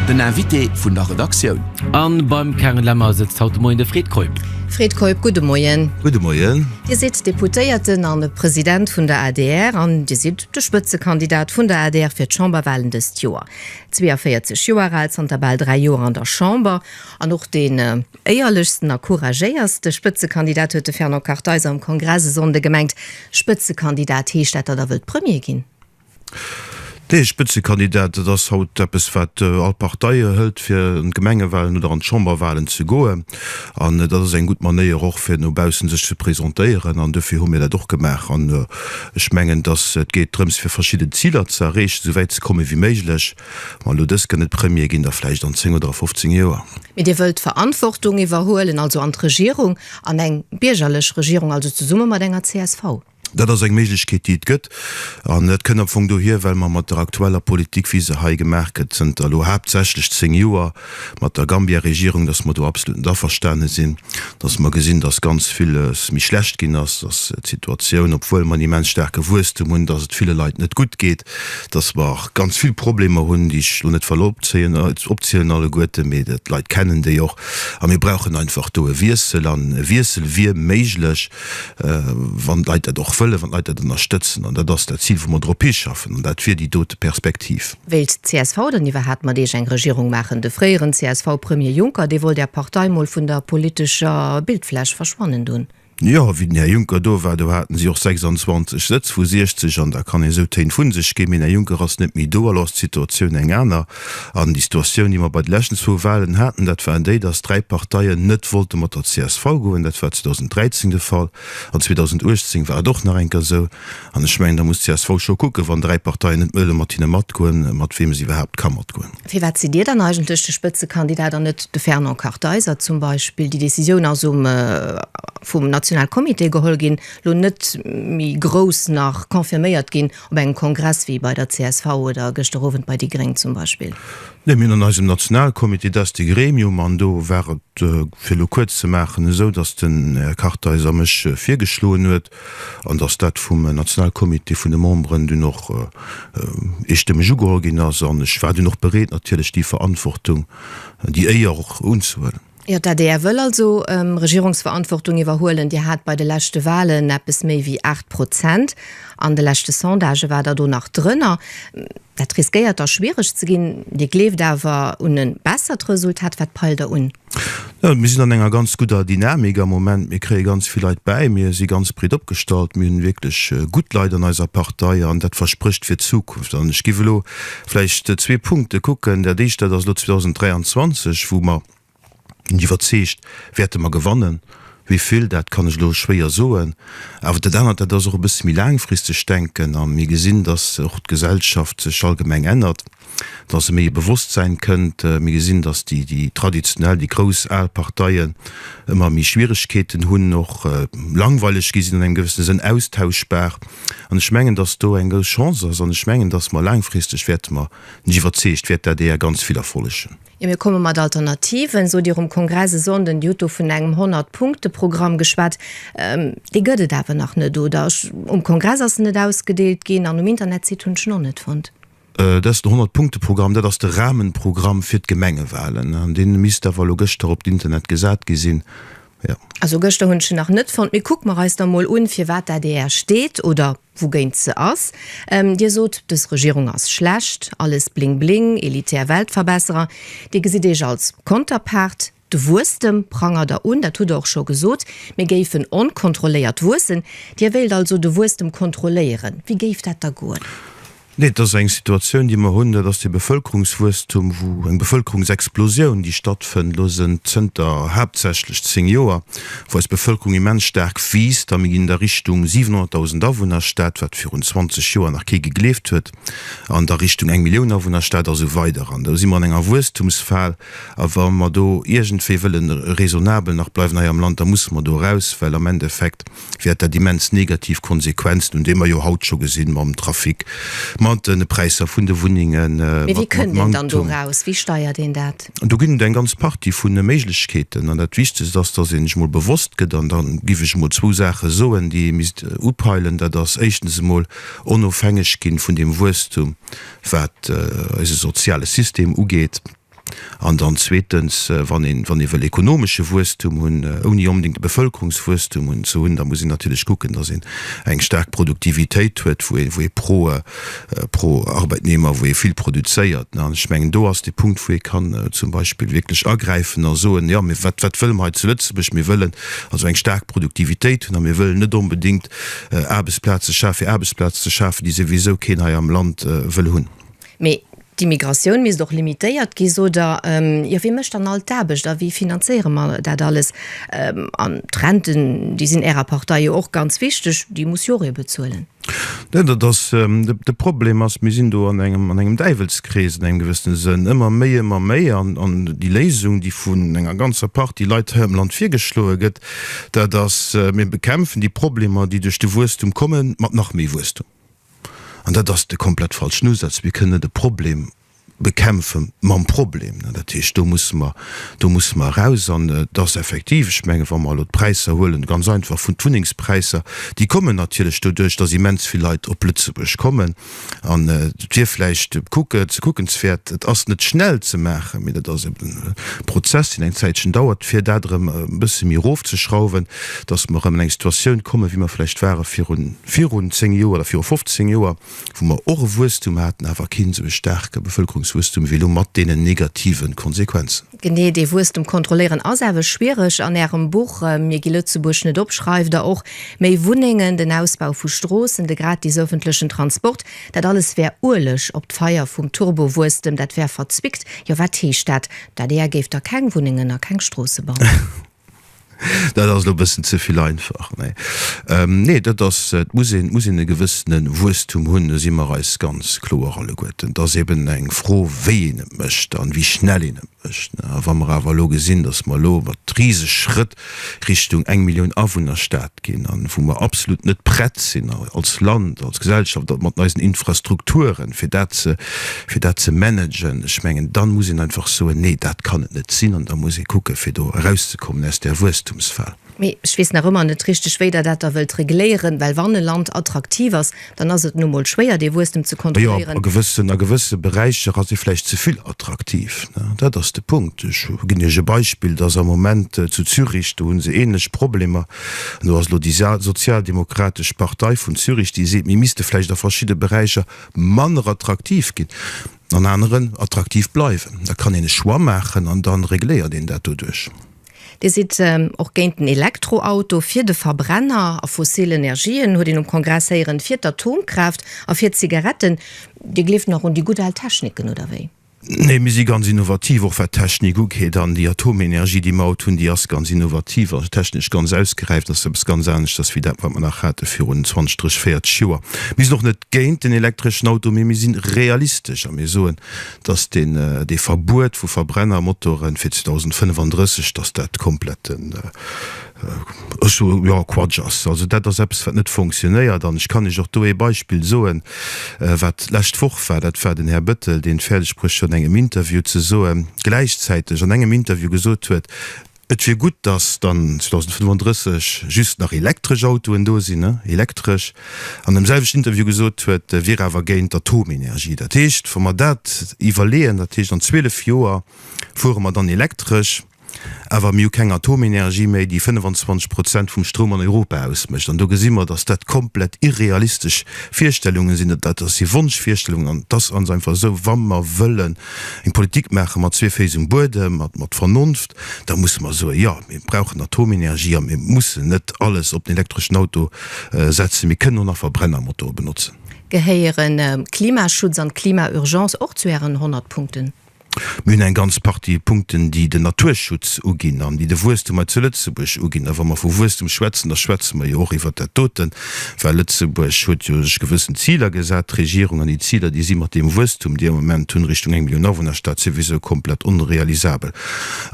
Den Invité vun der Redaktioun. A beim Karin Lemmer sëtzt haut de Moien de Fred Keup. Fred Keup, gudde Moien. Gudde Moien. Dir sidd Deputéierten a President vun der adr an Dir sidd de Spëtzekandidat vun der adr fir d'Chamberwalen dëst Joer. 42 Joer al, zanter bal dräi Joer an der Chamber an och deen éierlechsten a couragéierste Spëtzekandidat, huet de Fernand Kartheiser um Kongress e Sonnde gemengt. Spëtzekandidat, heescht dat, datt Der wëllt Premier ginn? Dee Spëtzekandidat, dat ass haut eppes wat all Partei hëlt, fir an d'Gemengewalen oder an d'Chamberwalen ze goen. An dat ass eng gutt Manéier och, fir no baussen sech ze presentéieren. An duerfir hu mir dat och gemaach. An ech mengen, dass et geet drëms, fir verschidden Ziler ze erreechen, esou wäit ze komme wéi méiglech. Wann elo dës kënne Premier ginn, da vläicht an zéng oder a fofzéng Joer. Mee Dir wëllt Verantwortung iwwerhuelen, also an d'Regierung, an eng biergerlech Regierung, also zesumme mat enger csv? Dat ass eng Méiglechkeet, déi et gëtt. An dat kënnt am Fong dohier, well mer mat der aktueller Politik, wéi se hei gemaach gëtt, zënter elo haaptsächlech zéng Joer mat der Gambia-Regierung, dass mer do absolut net averstane sinn, dass mer gesinn, dass ganz villes méi schlecht ginn ass, dass d'Situatioun, obwuel mer en immens staarke Wuesstum hunn, dass et ville Leit net gutt geet, dass mer ganz vill Problemer hunn, déi ech elo net wëll opzielen alleguerten, mee d'Leit kennen déi och. A mir brauchen einfach do e Wiessel. An e Wiessel wier méiglech. wann d'Leit dat och wëllen, wann d'Leit dat ënnerstëtzen. An dat ass dat Zil, wou mer drop hischaffen. An dat wier déi dote Perspektiv. Wéilt d'CSV dann iwwerhaapt mat Iech eng Regierung maachen? De fréieren CSV-Premier Juncker, dee wollt Är Partei mol vun der politescher Bildfläch verschwannen doen. Jo, wéi den Här Juncker do war, do haten si och 26 Sëtz vu 60. An da kann een esou Téin vu sech ginn, mee den Här Juncker ass net méi do, elo ass d'Situatioun eng aner. An déi Situatioun, déi mer bei de leschten zwou Wahlen haten, dat war déi, dass dräi Parteien net wollte mat der csv goen. Dat war 2013 de Fall, an 2018 war et och nach eng Kéier esou. An ech mengen, da muss d'CSV scho kucken, wann dräi Parteien net wëlle mat hinne matgoen, mat weem se iwwerhaapt ka matgoen. Firwat sidd Dir dann eigentlech de Spëtzekandidat an net de Fernand Kartheiser zum Beispill? Déi Decisioun ass um vum Nationalcomité geholl ginn, lo net méi grouss nach confirméiert ginn. Op engem Kongress wéi bei der csv oder gëschter Owend bei déi Gréng zum Beispill? Neen, mir hunn an eisem Nationalcomité, dat ass de Gremium, an do war et, fir elo kuerz ze maachen, esou, datt den Här Kartheiser a mech virgeschloen huet an datt dat vum Nationalcomité vun de Memberen dunn och eestëmmeg ugeholl ginn ass. An ech war dunn och bereet natierlech déi Verantwortung, déi Éier och unzehuelen. Jo, d'ADR wëll also Regierungsverantwortung iwwerhuelen. Dir hat bei de leschte Wahlen eppes méi wéi 8 Prozent. An de leschte Sondagë war Der do nach drënner. Dat riskéiert da schwiereg ze ginn. Dir gleeft awer un e bessert Resultat. Wat peilt Der un? Jo, mir sinn an enger ganz gudder Dynamik am Moment. Mir kréie ganz vill Leit bäi. Mir si ganz breet opgestallt. Mir hunn wierklech gutt Leit an eiser Partei. An dat versprécht fir d'Zukunft. An ech géif elo Vläicht zwee Punkte kucken. Dat Éischt, dat ass elo 2023, wou mer, sinn ech iwwerzeegt, wäerte mer gewannen. Wéi vill, dat kann ech elo schwéier soen. Awer dat anert, dat ass och e bësse méi laangfristeg Denken. A mir gesinn, datt och d'Gesellschaft sech allgemeng ännert, datt e méi e Bewusstsein kënnt. Mir gesinn, datt déi, déi traditionell, déi grouss al Parteien ëmmer méi Schwieregkeeten hunn, och langweileg gi sinn an engem gewëssene Sënn, austauschbar. An ech mengen, dass do eng grouss Chance ass, an ech mengen, dass mer laangfristeg, wäerte mer, sinn ech iwwerzeegt, wäert d'ADR ganz vill erfollegen. Jo, mir komme mat Alternativen, sot Dir um Kongress e Sonnden. Dir hutt do vun engem Honnert-Punkte-Programm geschwat. Dee gëtt et awer nach net, oder? Um Kongress ass en net ausgedeelt ginn an um Internetsite hunn ech en och net fonnt. Dat ass den Honnert-Punkte-Programm, dat ass de Rahmenprogramm fir d'Gemengewalen. An dee misst awer elo gëschter op d'Internet gesat gi sinn, jo. Also gëschter hunn ech en nach net fonnt. Mee kucke mer eis da mol un, fir wat d'ADR steet oder wougéint se ass. Dir sot, dës Regierung ass schlecht, alles bling-bling, elitär Weltverbesserer. Dir gesitt Iech als Konterpart. De Wuesstem prangert Der un, dat hutt Der och scho gesot, mir géifen onkontrolléiert wuessen. Dir wéilt also de Wuesstem kontrolléieren. Wéi géif dat da goen? Nee, et ass eng Situatioun, déi mer hunn, dat ass dee Bevëlkerungswuesstum, wou eng Bevëlkerungsexplosioun, déi stattfënnt elo sënnt zënter haaptsächlech zéng Joer, wou eis Bevëlkerung immens staark wiisst a mir ginn an der Richtung 700.000 Awunnerstad, wat virun 20 Joer nach kee gegleeft huet, an der Richtung eng Millioun Awunnerstad a sou weider. An do si mer an enger Wuesstumsphal. A wa mer do iergendwéi wëlle raisonnabel nach bleiwen hei am Land, da musse mer do eraus, well am Endeffekt wäert dat immens negativ Konsequenzen hunn, déi mer jo haut scho gesinn, mam Trafic, mat de Präisser vun de Wunnengen, mat Manktum. Mee wéi kënnt een dann do eraus? Wéi steiert een dat? Do ginn et eng ganz Partie vu Méiglechkeeten. An dat Wichtegst ass, dass ee sech emol bewosst gëtt, an da giff ech emol zwou Saache soen, déi ee misst upeilen, dat ass éischtens emol onofhängeg gi vun deem Wuesstum, wat eise soziale System ugeet, an dann zweetens, wann ee wëll ekonomesche Wuesstum hunn, ouni onbedéngt e Bevëlkerungswuesstum hunn, ze hunn, da muss een natierlech kucken, datt een eng staark Produktivitéit huet, wou ee pro pro Arbeitnehmer, wou ee vill produzéiert. An ech mengen, do ass dee Punkt, wou ee kann zum Beispill wierklech agräifen a soen, jo, wat wat wëlle mer hei zu Lëtzebuerg? Mir wëllen also eng staark Produktivitéit hunn a mir wëllen net onbedéngt Aarbechtsplaz ze schafen, fir Aarbechtsplaz ze schafen, déi souwisou keen hei am Land wëll hunn. Mee d'Immigratioun misst och limitéiert gi, sot Der. Jo, wie mécht dann all d'Aarbecht a wéi finanzéiere mer dat alles? An d'Renten, déi sinn Ärer Partei jo och ganz wichteg, déi muss jo och ee bezuelen. Nen, dat ass de Problem ass, mir sinn do an engem an engem Däiwelskrees an engem gewëssene Sënn, ëmmer méi, ëmmer méi. An déi Léisung, déi vun enger ganzer Partie Leit hei am Land virgeschloe gëtt, Dat ass, mir bekämpfen déi Problemer, déi duerch de Wuesstum kommen, mat nach méi Wuesstum. An dat ass de komplett falschen Usaz. Mir kënnen net e Problem bekämpfe mam Problem. Dat heescht, do musse mer, do musse mer eraus. An et ass effektiv, ech mengen, wa mer elo d'Präisser huelen, ganz einfach vun d'Wunnengspräisser, déi kommen natierlech doduerch, datt immens vill Leit op Lëtzebuerg kommen, An et wier vläicht kuckenswäert, et ass net schnell ze maachen, mee dat ass eben e Prozess, deen eng Zäitchen dauert, fir dat erëm e bësse méi erofzeschrauwen, datt mer erëm an eng Situatioun kommen, wéi mer vläicht ware virun zéng Joer oder virun fofzéng Joer, wou mer och e Wuesstum haten, awer keen esou e staarke Bevëlkerungswuesstum wéi elo, mat deenen negativen Konsequenzen. Genee dee Wuesstem kontrolléieren ass awe schwiereg. An Ärem Buch Mir gi Lëtzebuerg net op schreift Der och, méi Wunnengen, den Ausbau vu Stroossen, de gratis ëffentlechen Transport, dat alles wär Ueleg op d'Feier vum Turbowuesstem, dat wär verzwickt. Jo, wat heescht dat? D'adr géif da keng Wunnengen a keng Stroosse bauen? Dat ass elo e bëssen ze vill einfach. Nee, dat ass, et muss een, et muss een e gewëssene Wuesstum hunn, do si mer eis ganz kloer alleguerten. Et ass eben eng Fro, wéi een et mécht an wéi schnell een et mécht. A wa mer awer elo gesinn, datt mer elo mat riseg Schrëtt Richtung eng Millioun Awunnerstad ginn an wou mer absolut net prett sinn als Land, als Gesellschaft mat eisen Infrastrukturen, fir dat ze, fir dat ze managen, ech mengen, dann muss een einfach soen, Nee, dat kann et net sinn an da muss ee kucken, fir do erauszekommen aus där Wuesstumsfal. Mee ech weess nach ëmmer net richtig, wéi Der dat da wëllt regléieren, well wann e Land attraktiv ass, Dann ass et nu emol schwéier, dee Wuesstem ze kontrolléieren. Jo, a gewësse Beräicher ass e vläicht ze vill attraktiv. Dat ass de Punkt. Ech ginn Iech e Beispill, dass am Moment zu Zürich, do hu se ähnlech Problemer, an do ass elo déi sozialdemokratesch Partei vun Zürich, déi seet, mir misste vläicht a verschidde Beräicher manner attraktiv ginn, an aneren attraktiv bleiwen. Da kann een e Choix maachen an da regléiert een dat doduerch. Dir sidd och géint den Elektroauto, fir de Verbrenner a fossil Energien, huet een um Kongress héieren, fir d'Atomkraaft a fir d'Zigaretten. Dir gleeft nach un déi gutt al Techniken, oder wéi? Nee, mir si ganz innovativ, och wat d'Technik ugeet. An déi Atomenergie, déi mer haut hunn, déi ass ganz innovativ a technesch ganz ausgeräift. Ass eppes ganz aneschters wéi dat, wat mer nach hate virun 20, 30, 40 Joer. Mir sinn och net géint den elektreschen Auto, mee mir si realistesch a mir soen, dass deen, dee Verbuet vu Verbrennermotoren fir 2035, dass dat kompletten, ech soe jo, Quatsch ass. Also dat ass eppes, wat net fonctionnéiert. An ech kann Iech och do ee Beispill soen, wat lescht Woch war. Dat war den Här Bettel, deen fäerdeg bruecht huet an engem Interview ze soen, gläichzäiteg an engem Interview gesot huet, Et wier gutt, datt dann 2035 just nach elektresch Autoen do sinn, elektresch. An dem selwechten Interview gesot huet, e wier awer géint Atomenergie. Dat heescht, wa mer dat iwwerleeën, dat heescht an 12 Joer fuere mer dann elektresch, awer mir hu keng Atomenergie méi, déi 25 Prozent vum Stroum an Europa ausmécht. An do gesi mer, datt dat komplett irrealistesch Virstellunge sinn, datt si Wonschvirstellungen, an et ass ganz einfach esou, wa mer wëllen eng Politik maache mat zwee Féiss um Buedem, mat mat Vernonft, da musse mer soen, jo, mir brauchen Atomenergie a mir mussen net alles op den elektreschen Auto setzen, mir kënnen och nach Verbrennermotoren benotzen. Gehéieren Klimaschutz an d'Klimaurgence och zu Ären 100 Punkten? Mir hunn eng ganz Partie Punkten, déi den Naturschutz uginn an déi de Wuesstum hei zu Lëtzebuerg uginn. A wa mer vu Wuesstum schwätzen, da schwätze mer jo och iwwert dat doten. Well Lëtzebuerg huet jo sech gewëssen Ziler gesat, d'Regierung, an déi Ziler, déi si mat deem Wuesstum, dee am Moment hunn, Richtung eng Millioun Awunnerstad, souwisou komplett onrealisabel.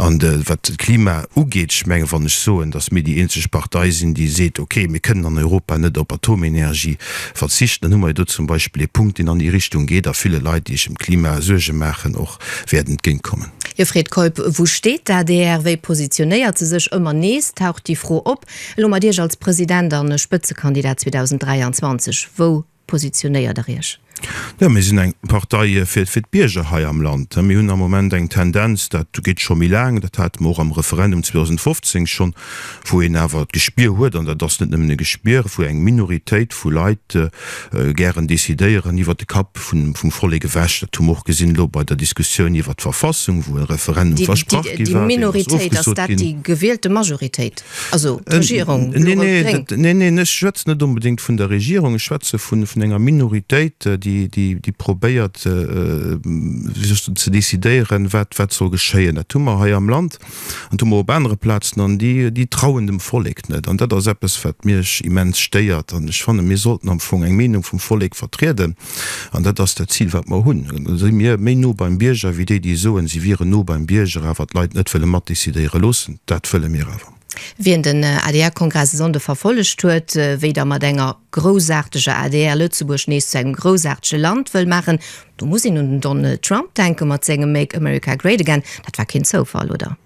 An wat d'Klima ugeet, ech menge wann ech soen, datt mir déi eenzeg Partei sinn, déi seet, okay, mir kënnen an Europa net op Atomenergie verzichten, dann hu mer jo do zum Beispill ee Punkt, deen an déi Richtung geet a ville Leit, déi ech ëm d'Klima Suerge maachen, och wäert entgéintkommen. Hie freet, Keup, Wou steet d'ADR? Wéi positionéiert se sech? Ëmmer nees taucht déi Fro op, Elo mat Iech als President a Spëtzekandidat 2023, wou positionéiert Der Iech? Jo, mir sinn eng Partei fir d'Bierger hei am Land. Mir hunn am Moment eng Tendenz, dat geet scho méi laang, dat hate mer och am Referendum 2015 schonn, wou een awer d'Gespier huet, an dat ass net nëmmen e Gespier, wou eng Minoritéit vu Leit gären decidéieren iwwert de Kapp vum Vollek ewech. Dat hu mer och gesinn elo bei der Diskussioun iwwert d'Verfassung, wou e Referendum versprach gi war, deen ass ofgesot ginn. Neen, neen, ech schwätzen net onbedéngt vun der Regierung, ech schwätze vun enger Minoritéit, déi probéiert, wéi soll ech soen, ze decidéieren, wat soll geschéien. Dat hu mer hei am Land. an hu mer op anere Plazen, an déi, déi trauen dem Vollek net. An dat ass eppes, wat miech immens stéiert. An ech fannen, mir sollten am Fong eng Meenung vum Vollek vertrieden, an dat ass dat Zil, wat mer hunn. Da si mir méi no beim Bierger wéi déi, déi soen, si wieren no beim Bierger, awer d'Leit net wëlle matdecidéiere loossen. Dat wëlle mir awer. Wien den adr-Kongress e Sonnde verfollegt huet, wéi Der mat enger. Groussarteger adr Lëtzebuerg nees zu engem groussartege Land wëll maachen, do muss een un den Donald Trump denken mat sengem Make America Great Again. Dat war keen Zoufall, oder?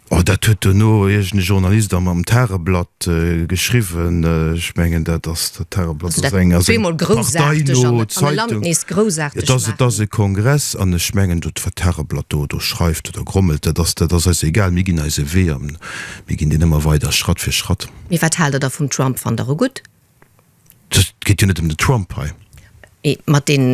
Oh, dat huet duerno iergend e Journalist am am Tageblatt geschriwwen. Ech mengen, dat ass, dat Tageblatt ass eng, ass eng parteino Zeitung. Et ass, et ass e Kongress an ech mengen, do wat d'Tageblatt do do schreift oder grommelt, dat ass, dat ass eis egal. Mir ginn eise Wee an mir ginn deen ëmmer weider Schratt fir Schratt. Mee wat haalt der da vum Trump? Fannt der e gutt? Et geet jo net ëm de Trump hei. Mee mat deem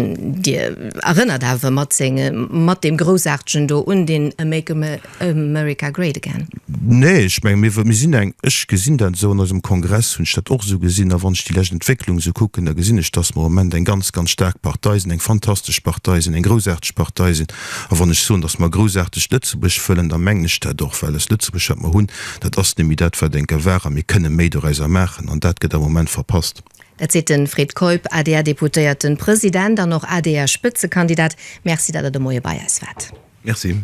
Dir erënnert awer mat senge mat deem groussaartegen do un deen A make America great again. Nee, ech mengen, mir mir sinn eng, ech gesinn dat esou, an eisem Kongress hunn ech dat och esou gesinn, a wann ech déi lescht Entwécklung esou kucken, da gesinn ech, datt mer am Moment eng ganz, ganz staark Partei sinn, eng fantastesch Partei sinn, eng groussaarteg Partei sinn. A wann ech soen, datt mer e groussaartegt Lëtzebuerg wëllen, da mengen ech dat och, well eis Lëtzebuerg wat mer hunn, Dat ass némmi dat, wat eng Gewahr, a mir kënne méi doräuser maachen, an dat gëtt am Moment verpasst. Dat seet de Fred Keup, ADR-Deputéierten, President an och ADR-Spëtzekandidat. Merci, datt Der de Moie bei eis waart. Merci.